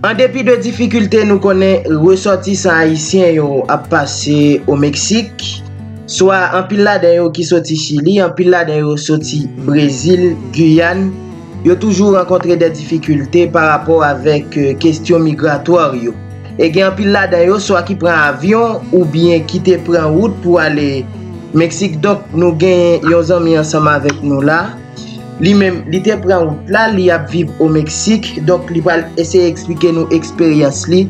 An depi de difikilte nou konnen resòtisan ayisyen yo ap pase o Meksik, swa anpil ladan yo ki soti Chili, anpil ladan yo soti Brezil, Guyàn, yo toujou rankontre dè difikilte pa rapò avèk kestyon migratwar yo. E gen anpil ladan yo swa ki pran avyon ou byen ki te pran wout pou ale Meksik donk nou gen yon zanmi ansanm avèk nou la, Li menm, li te pran wout la, li ap viv o Meksik, donk li pral eseye eksplike nou eksperyans li,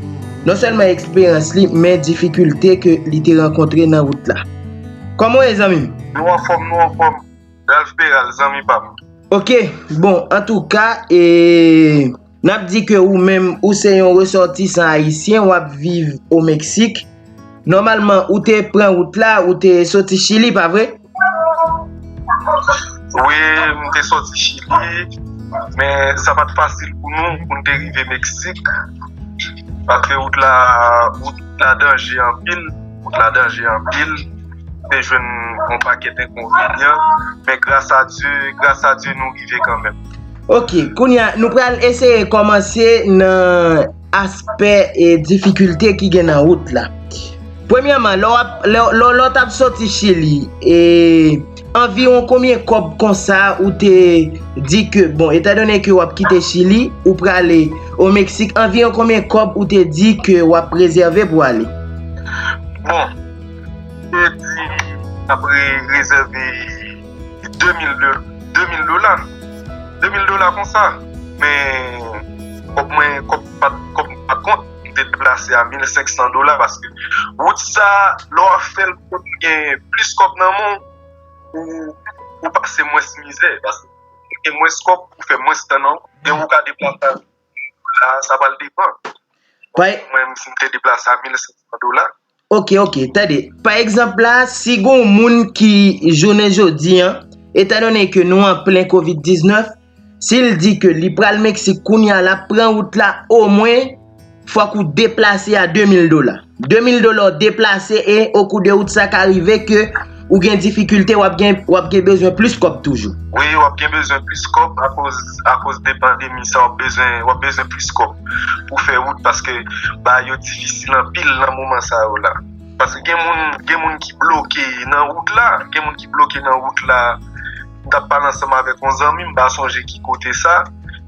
non sèlman eksperyans li, men difikilte ke li te rankontre nan wout la. Kòman w ye zanmi m? Nou anfòm, nou anfòm, Ralph Peral, zanmi pa m. Ok, bon, antouka, e. N ap di ke ou menm ou se yon resòtisan ayisyen, w ap viv o Meksik. Nòmalman, ou te pran wout la, ou te soti Chili, pa vre? Wi, m te soti Chili, men sa pa t fasil pou nou pou n te rive Meksik, paske wout la, wout la danje anpil, wout la danje anpil, m te jwenn yon pakèt enkonvenyan, men gras a Dye, gras a Dye nou rive kanmenm. Ok, kounye a, nou pral eseye kòmanse nan aspè e difikilte ki gen nan wout la. Premyèman, lè w ap, lè w, lè w t ap soti Chili, e, anviwon konbyen kòb konsa ou te di ke, bon, etan done ke w ap kite Chili, ou prale o Meksik, anviwon konbyen kòb ou te di ke w ap rezève pou ale? Bon, m te di m t ap rezève. 2000 dola, 2000 dola konsa, men kòb mwen, kòb mwen pat kont, mwen te deplase a 1500 dola, paske wout sa, lè w ap fè l pou w gen plis kòb nan men w, ou pase mwens mizè, paske ou gen mwens kòb, ou fè mwens tan nan wout, e ou ka deplase a 2000 dola, sa pral depan. Mwen mwen te deplase a 1500 dola. Ok ok tande pa egzanp la si gon moun ki jounen jodi an etan donnen ke nou an plen covid 19 sil di ke li pral meksik kounya lap pran wout la o mwen fòk ou deplase a 2000 dola 2000 dola ou deplase e okou de wout sa ka rive ke Ou gen difikilte wap gen bezwen plis kòb toujou. Wi wap gen bezwen plis kòb akoz de pandemi sa wap bezwen plis kòb pou fè wout paske bagay yo difisil anpil nan moman sa yo la. Paske gen moun ki bloke nan wout la. M tap pale ansanm avèk yon zanmi m pa sonje ki kote sa,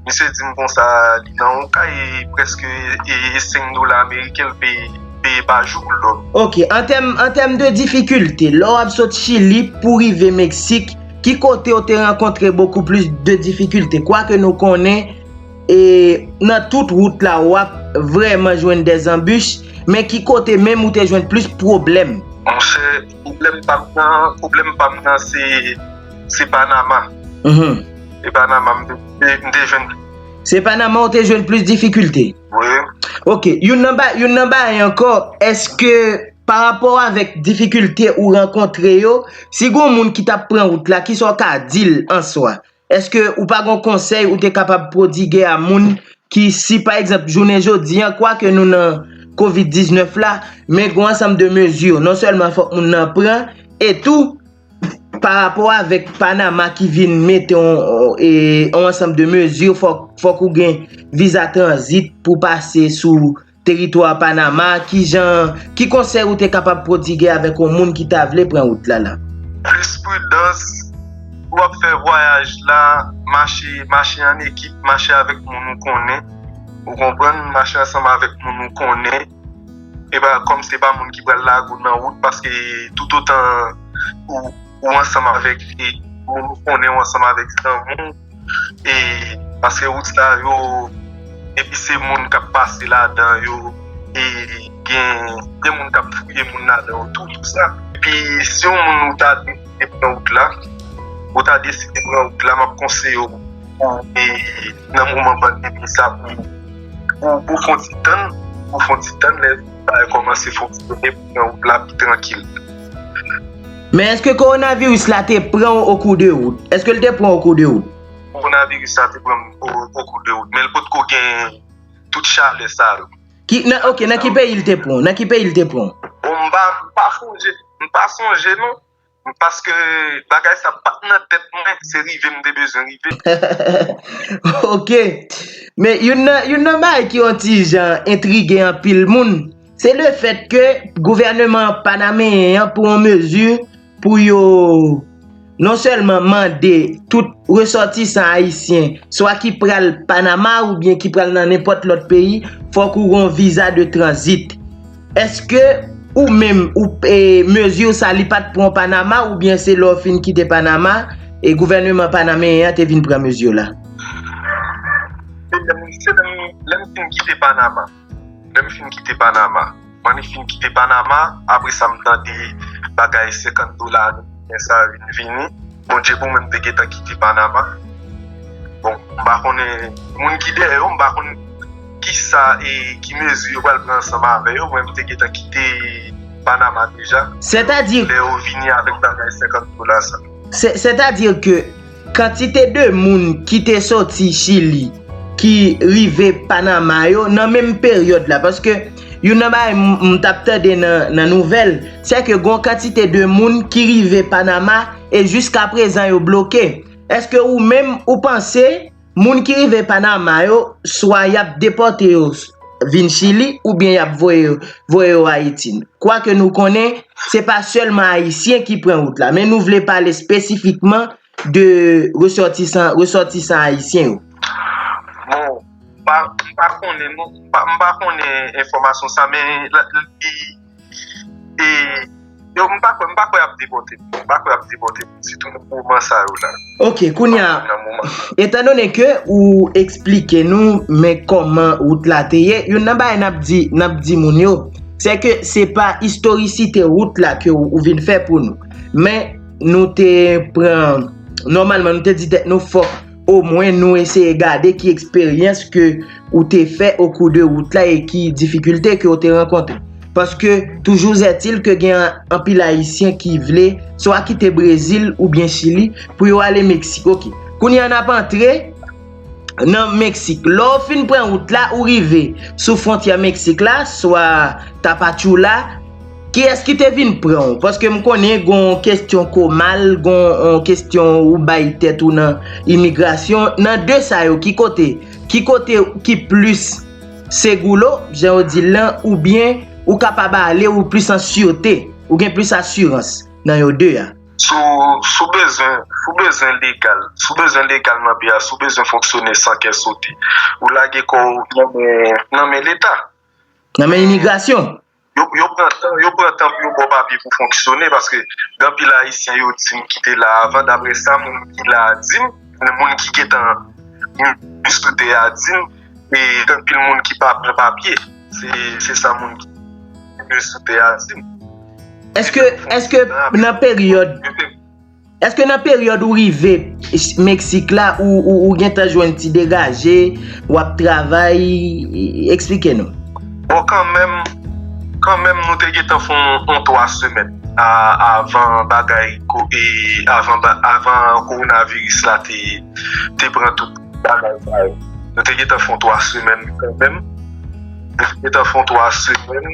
misye di m konsa li nan yon kay prèske e 5 dola ameriken l peye pa jou pou l dòmi. Ok, an tèm de difikilte, lè w ap sot Chili pou w rive Meksik, ki kote w te rankontre bokou plis de difikilte? Kwake nou konnen e nan tout wout la w ap vrèman jwenn dè zanbich, men ki kote menm ou te jwenn plis pwoblèm? Monchè! Pwoblèm pam nan, pwoblèm pam nan se, se Panama. Se Panama m te jwenn. Se Panama ou te jwenn plis difikilte? Wi. Ok, youn nan ba, youn nan bagay ankò, èske pa rapò avèk difikilte ou rankontre yo, si gon moun ki t ap pran wout la, ki sa ou ka di l an swa? Eske ou pa gon konsèy ou te kapab prodiguè a moun ki si pa egzanp jounen jodi an kwa ke nou nan covid 19 la men gon ansanm de mezi non sèlman fòk moun nan pran e tou pa rapò avèk panama ki vin mete yon yon ansanm de mezi fòk ou gen viza tranzit pou pase sou Teritwa Panama, Kijan, Ki konsèy ou te kapab pwodige avèk yon moun ki ta vle pran wout la la? Plis pridans, Si w ap fè vwayaj la, mache, mache an ekip, mache avèk moun ou konnen, ou konprann, mache ansanm avèk moun ou konnen, e pa kòm se pa moun ki pral lage ou nan wout, paske toutotan ou ansanm avèk moun ou konnen, ou ansanm avèk zanmi w. e paske wout sa yo depi se moun kap pase ladan yo e gen moun kap fouye moun ladan yo tou tout sa, epi si yon moun ou ta deside pran wout la ou ta deside pran wout la map konseyew pou e nan moman pandemi sa pou fon ti tann pou fon ti tann. Bagay kòmanse fonksyone pou mwen wout la pi trankil. Men eske kowonaviris la te pran w okou de wout? Eske l te pran w okou de wout? Kowonaviris la te pran m okou de wout men l potko gen tout chalè sa yo. Ok, nan ki peyi l te pran w? Bon m pa sonje non. Paske bagay sa pat nan tèt mwen, se rive m te bezwen rive. Ok. Men youn nan bagay ki yon ti jan entrige anpil moun, se le fèt ke gouvèneman panameyen an pran mezi pou yo non sèlman mande tout resòtisan ayisyen swa ki pral Panama oubyen ki pral nan nenpòt lòt peyi fòk ou gon viza de tranzit. Eske ou menm ou mesure sa li pat pran Panama ou byen se lè w fin kite Panama e gouvernement panameyen an te vin pran mesure la? Se lè m fin kite Panama. Lè m fin kite Panama. Mwen li fin kite Panama apre sa m tande bagay 50 dola ameriken sa vin vini. Bon Dye pou mwen m te gentan kite Panama. Bon m pa konnen moun ki dèyè yo m pa konnen. Kisa e ki mezi yo pral pran ansanm avè yo? Mwen m te gentan kite Panama deja. Sètadi. Lè yo vini avèk bagay 50 dola sa. Sètadi ke kantite de moun ki te soti Chili ki rive Panama yo nan menm peryòd la. Paske youn nan bagay m t ap tande nan nouvèl, se ke gon kantite de moun ki rive Panama e jiskaprezan yo bloke. Eske ou menm ou panse Moun ki rive Panama yo, swa y ap depòte yo vin Chili oubyen y ap voye yo Ayiti. Kwake nou konnen, se pa sèlman Ayisyen ki pran wout la, men nou vle pale espesifikman de resòtisan Ayisyen yo. Bon, m pa konnen, m pa konnen enfòmasyon sa, men li. E yo m pa kwè, m pa kwè y ap depòte moun. M pa kwè y ap depòte moun sitou nan moman sa yo la. Ok, kounye a, etan donnen ke ou eksplike nou men kòman wout la te ye, youn nan bagay n ap di, n ap di moun yo, se ke se pa istorisite wout la ke ou vin fè pou nou. Men nou te pran, nòmalman nou te di tèt nou fòk. O mwen nou eseye gade ki eksperyans ke ou te fè o kou de wout la e ki difikilte ke ou te rankontre. Paske toujou zètil ke gen anpil ayisyen ki vle swa kite Brezil oubyen Chili pou yo ale Meksik. Ok. Kounye a nap antre nan Meksik. Lè ou fin pran wout la ou rive sou fwontyè Meksik la swa Tapachula. Kiyès ki te vin pran w? Paske m konnen gen yon kestyon komal, gen yon kestyon ou bay tèt ou nan imigrasyon. Nan de sa yo, ki kote? Ki kote ki plis segoulo, jan yo di l lan, oubyen ou kapab ale, ou plis an sirte, ou gen plis asirans nan yo de a? Si w bezwen, si w bezwen legal, si w bezwen legal nan peyi a, si w bezwen fonksyone san kè sote, ou lage kò w nan men Leta. Nan men imigrasyon? Yo pran tan, yo pran tan pou yo ba w papye pou fonksyone paske gen anpil ayisyen yo di m ki te la avan daprè sa moun ki la a di m, moun ki gentan viv sou tè a di m e gen anpil moun ki pa pran papye se sa moun ki viv sou tè a di m. Eske nan peryòd Eske nan peryòd ou rive Meksik la ou gentan jwenn ti degaje, w ap travay? Eksplike nou. Bon kanmenm, kanmenm nou te gentan fè yon 3 semèn avan bagay, avan kowonaviris la te pran tout bagay sa yo. Nou te gentan fè yon 3 semèn kanmenm. Nou te gentan fè yon 3 semèn.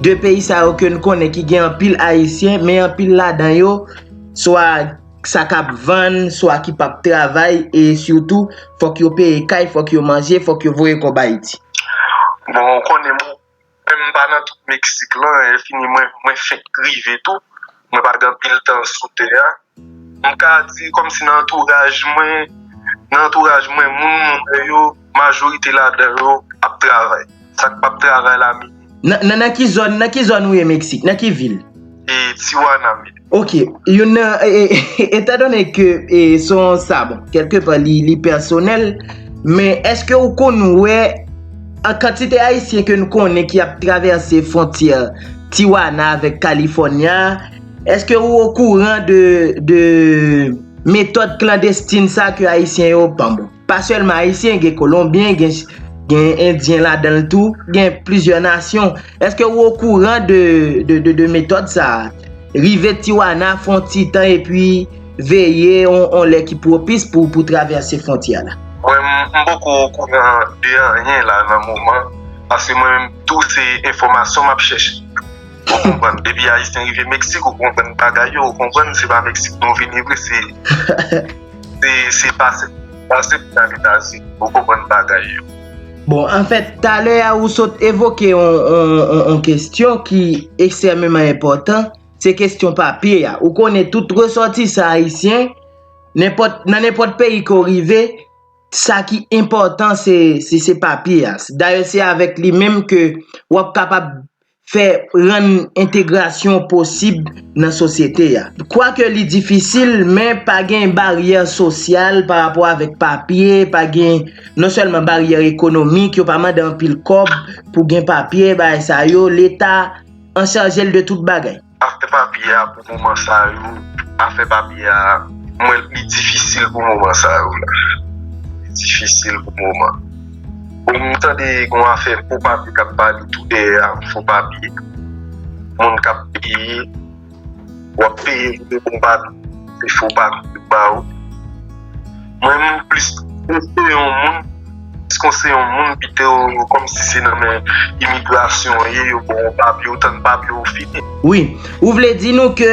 2 peyi sa yo ke n konnen ki gen anpil ayisyen men anpil ladan yo swa sa k ap vann swa ki p ap travay e sitou fòk yo peye kay fòk yo manje fòk yo voye kòb ayiti. Bon ou konnen mwen menm m pa nan tout meksik lan efini mwen fenk rive tou. Mwen pa gen anpil tan sou tè a. M ka di kòmsi nan antouraj mwen, nan antouraj mwen moun mwen wè yo, majorite ladan yo ap travay. Sa k pa p travay la mele. Nan nan ki zòn, nan ki zòn ou ye Meksik? Nan ki vil? E Tijuana mele. Ok. Youn nan e, etan done ke e se yon sa bon, kèlke pa li li pèsonèl, men èske ou konn wè. An kantite ayisyen ke nou konnen ki ap travèse fwontyè Tijuana avèk California, eske ou okouran de metòd klandestin sa ke ayisyen yo, bon, pa sèlman ayisyen, gen kolonbyen, gen endyen ladanl tou, gen plizyè nasyon. Eske ou okouran de metòd sa? Rive Tijuana fon ti tan epi veye on lè ki pwopis pou travèse fwontyè la. Mwen m poko okouran de anyen la nan moman, paske mwen menm tou se enfòmasyon map chèche. Ou konprann, depi ayisyen rive Meksik ou konprann bagay yo, ou konprann se pa Meksik nou vini vre se se pase pou n ale Etazini, ou konprann bagay yo. Bon, an fèt, talè a ou sot evoke yon kestyon ki ekstèmeman enpòtan, se kestyon papye a. Ou konnen tout resòtisan ayisyen, nan nenpòt peyi ke ou rive, sa ki enpòtan se papye a. Dayè, se avèk li menm ke wap kapab fè rann entegrasyon posib nan sosyete a. Kwake li difisil, men pa gen baryè sosyal pa rapò avèk papye, pa gen non sèlman baryè ekonomik, yo pa mande anpil kòb pou gen papye, bagay sa yo, leta an chaje l de tout bagay. Afè papye a pou moman sa yo afè papye a m wè l pi difisil pou moman sa yo la pi difisil pou moman bon m tande gon afè fo papye k ap pale tou dèyè a fo papye moun k ap peye w ap peye pou de bon papye se fo papye yo ba ou. Mwen m plis konseye yon moun, plis konseye yon moun pito kòm si se nan men imigrasyon an ye yo baw yon papye, ou tann papye ou fini. Wi, ou vle di nou ke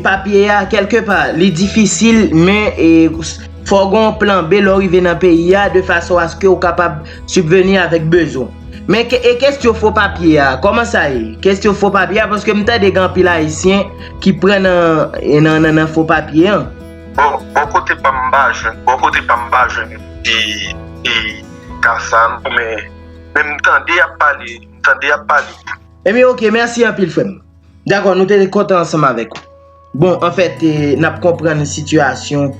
papye a kèlke pa li difisil men fò gen yon plan B lè w rive nan peyi a de fason aske ou kapab sibveni avèk bezwen. Men e kestyon fo papye a, kòman sa ye? Kestyon fo papye a paske m tande gen anpil ayisyen ki pran nan fo papye an. Bon bò kote pam m pa jwenn bò kote pam m pa jwenn e ka sa non men m tande y ap pale m tande y ap pale de. Ebyen ok mèsi anpil frè m. Dakò nou te kontan ansanm avèk ou. Bon anfèt n ap konprann sitiyasyon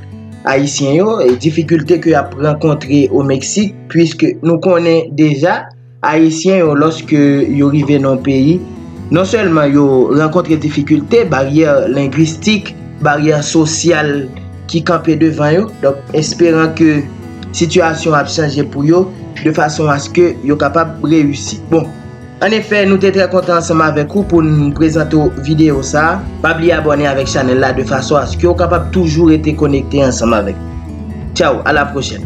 ayisyen yo e difikilte ke y ap rankontre o Meksik puiske nou konnen deja Ayisyen yo lòske yo rive nan yon peyi, non sèlman yo rankontre difikilte, baryè lengwistik, baryè sosyal ki kanpe devan yo, donk esperan ke sitiyasyon ap chanje pou yo de fason aske yo kapab reyisi. Bon, an efè, nou te trè kontan ansanm avèk ou pou n prezante w videyo sa a. Pa bliye abòne avèk chanèl la de fason aske w kapab toujou rete konekte ansanm avèk nou. Tchaw, a la pwochèn!